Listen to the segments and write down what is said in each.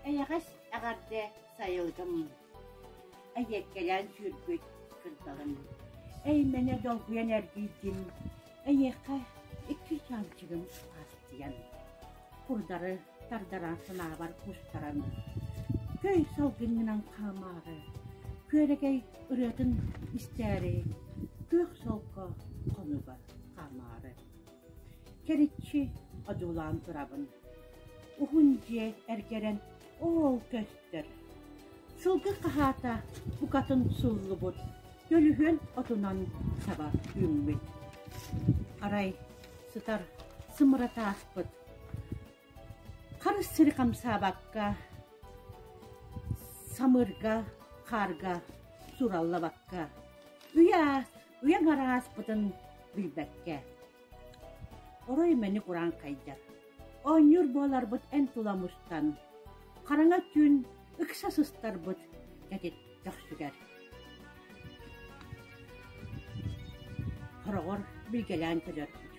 Эйэҕэс эҕэрдэ сайылгым эйиэккэлээн сүүрбүт кырдалым эймэнэ долгуйан эргийдим эйиэхэ икки чаанчыгым хааччыйан курдары тардаран санаабар кустаран көй салгыҥҥынан хаамаары күөрэгэй ырыатын истээри күөх солко хонугар хаамаары Кэриччи одьулаан турабын, уһун дьиэ эргэрэн оол көстөр, сылгы хаһаата букатын сууллубут, көлүһүөн отунан саба үүммүт. Арай сытар сымыратааспыт, харыс сири хамсаабакка самырга, хаарга сураллабакка, уйаа Үйэм арааспытын билбэккэ, орой-мэник ураан хайдар. Оонньуур буоларбыт эн тула мустан, хараҥа түүн ыкса сыстарбыт кэтит көхсүгэр. Хороҕор билгэлээн төлөрбүт.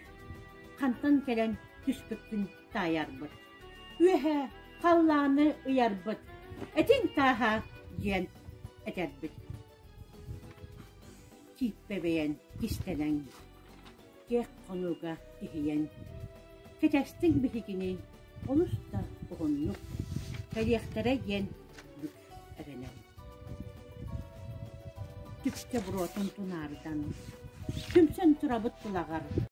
Хантан кэлэн түспүппүн таайарбыт. Үөһэ халлааны ыйарбыт. Этиҥ тааһа диэн этэрбит. Чииппэбэйэн кистэнэн, киэк хонууга иһийэн, кэтэстиҥ биһигини олус да уһуннук кэлиэхтэрэ диэн бүк эрэнэн, түстэ буруотун тунаарытан, сүмсэн турабыт былаҕар